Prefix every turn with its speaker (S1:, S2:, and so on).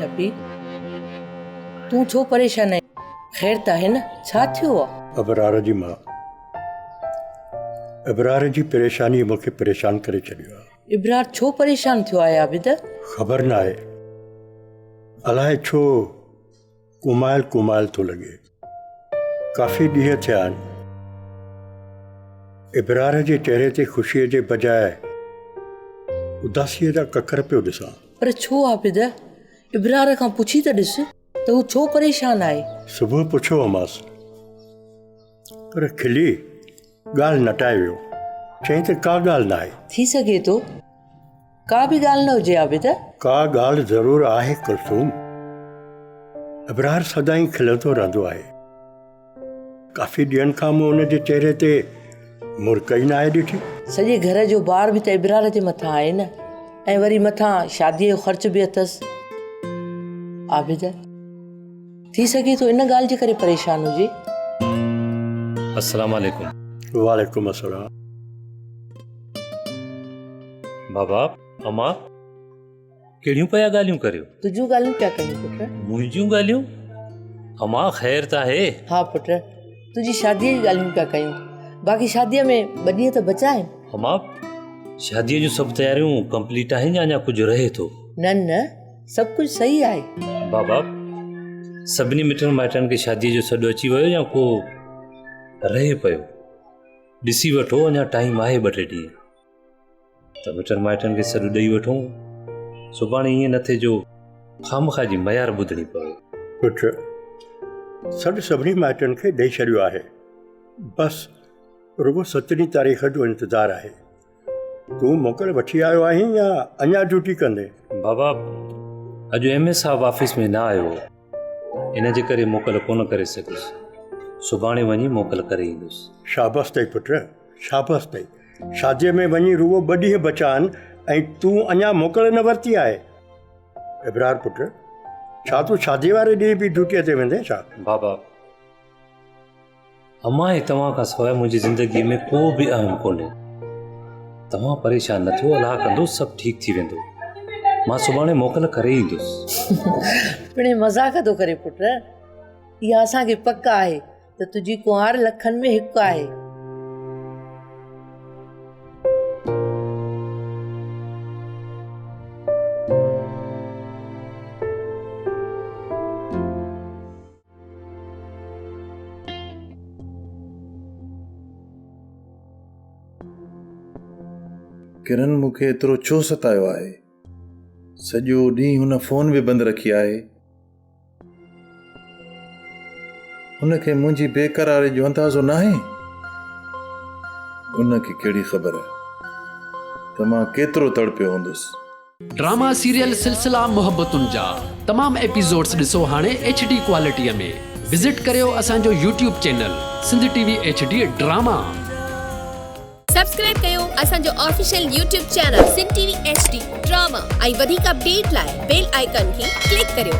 S1: لبيڪ، تون ڇو پريشان آهين؟ خير ته آهي نه؟ ڇا ٿيو آهي؟ ابرار جي ماء،
S2: ابرار جي پريشانيء مون کي پريشان ڪري ڇڏيو آهي. ابرار، ڇو پريشان
S1: ٿيو آهي عابد؟ خبر ناهي،
S2: الائي ڇو؟ ڪومائل ڪومائل ٿو لڳي. ڪافي ڏينهن ٿيا آهن. ابرار جي چهري تي خوشيء جي بجاء اداسيء جا ڪڪر پيو ڏسان. پر ڇو عابده؟
S1: ابرار کان پڇي ته ڏس ته هو ڇو پريشان آهي؟ صبح پڇيو
S2: هومانس پر کلي ڳالهه نٽائي ويو. چيائين ته ڪا ڳالهه ناهي. ٿي سگهي ٿو.
S1: ڪا به ڳالهه نه هجي عابد. ڪا ڳالهه
S2: ضرور آهي ڪلثوم. ابرار سدائين کلندو رهندو آهي. ڪافي ڏينهن کان مون هن جي چهري تي مرڪ ئي ناهي ڏٺي. سڄي گهر جو
S1: بار به ته ابرار جي مٿان آهي نه ۽ وري مٿان شاديء جو خرچ به اٿس. عابد، ٿي سگهي ٿو ان ڳالهه جي ڪري پريشان هجي. السلام
S3: عليڪم. وعليڪم السلام. بابا اما ڪهڙيون پيا ڳالهيون ڪريو تنهنجون ڳالهيون پيا ڪريون
S1: پٽ منهنجون ڳالهيون
S3: اما خير ته آهي ها پٽ تنهنجي
S1: شاديء جي ڳالهيون پيا ڪيون باقي شاديء ۾ ٻه ڏينهن ته بچا آهن اما
S3: شاديء جون سڀ تياريون ڪمپليٽ آهن يا اڃا ڪجهه رهي ٿو نه نه
S1: سڀ ڪجهه صحيح آهي بابا
S3: سڀني مٽن مائٽن کي شاديء جو سڏ اچي ويو يا ڪو رهي پيو ڏسي وٺو اڃا ٽائيم آهي ٻه ٽي ڏينهن ته مٽن مائٽن کي سڏ ڏئي وٺو سڀاڻي ائين نه ٿئي جو خامخا جي ميار ٻڌڻي پوي پٽ
S2: سڏ سڀني مائٽن کي ڏئي ڇڏيو آهي بس رڳو سترهين تاريخ جو انتظار آهي تون موڪل وٺي آيو آهين يا اڃا ڊيوٽي ڪندين؟ بابا
S3: اڄ ايم اي صاحب آفيس ۾ نه آيو هو ان جي ڪري موڪل ڪونه ڪري سگهيس سڀاڻي وڃي موڪل ڪري ايندس. شابس اٿئي پٽ
S2: شابس اٿئي شاديء ۾ وڃي رڳو ٻه ڏينهن بچا آهن ۽ تون اڃا موڪل نه ورتي آهي ابرار پٽ ڇا تون شاديء واري ڏينهن به ڊيوٽيء تي ويندين ڇا؟ بابا
S3: امان هي توهان کان سواء منهنجي زندگي ۾ ڪو به اهم ڪونهي توهان پريشان نه ٿيو الله ڪندو سڀ ٺيڪ ٿي ويندو مان سڀاڻي موڪل ڪري ايندس پڻي
S1: مزاق ٿو ڪري پٽ اها اسان کي پڪ آهي ته تنهنجي ڪنوار لکن ۾ هڪ آهي
S4: ڪرن مون کي ايترو ڇو ستايو آهي سڄو ڏينهن هن فون به بند رکي آهي هن کي منهنجي بيقراري جو اندازو نه آهي ان کي کي ڪهڙي خبر ته مان ڪيترو تڙپيو هوندس ڊراما سيريل
S5: سلسلا محبتن جا تمام ايپيسوڊس ڏسو هاڻي ايڇ ڊي ڪوالٽيء ۾ وزٽ ڪريو اسان جو YouTube channel Sindh T V H D drama.
S6: Subscribe ڪيو اسان جو official YouTube channel Sindh T V H D drama ۽ وڌيڪ اپڊيٽ لاء بيل آئيڪان کي ڪلڪ ڪريو.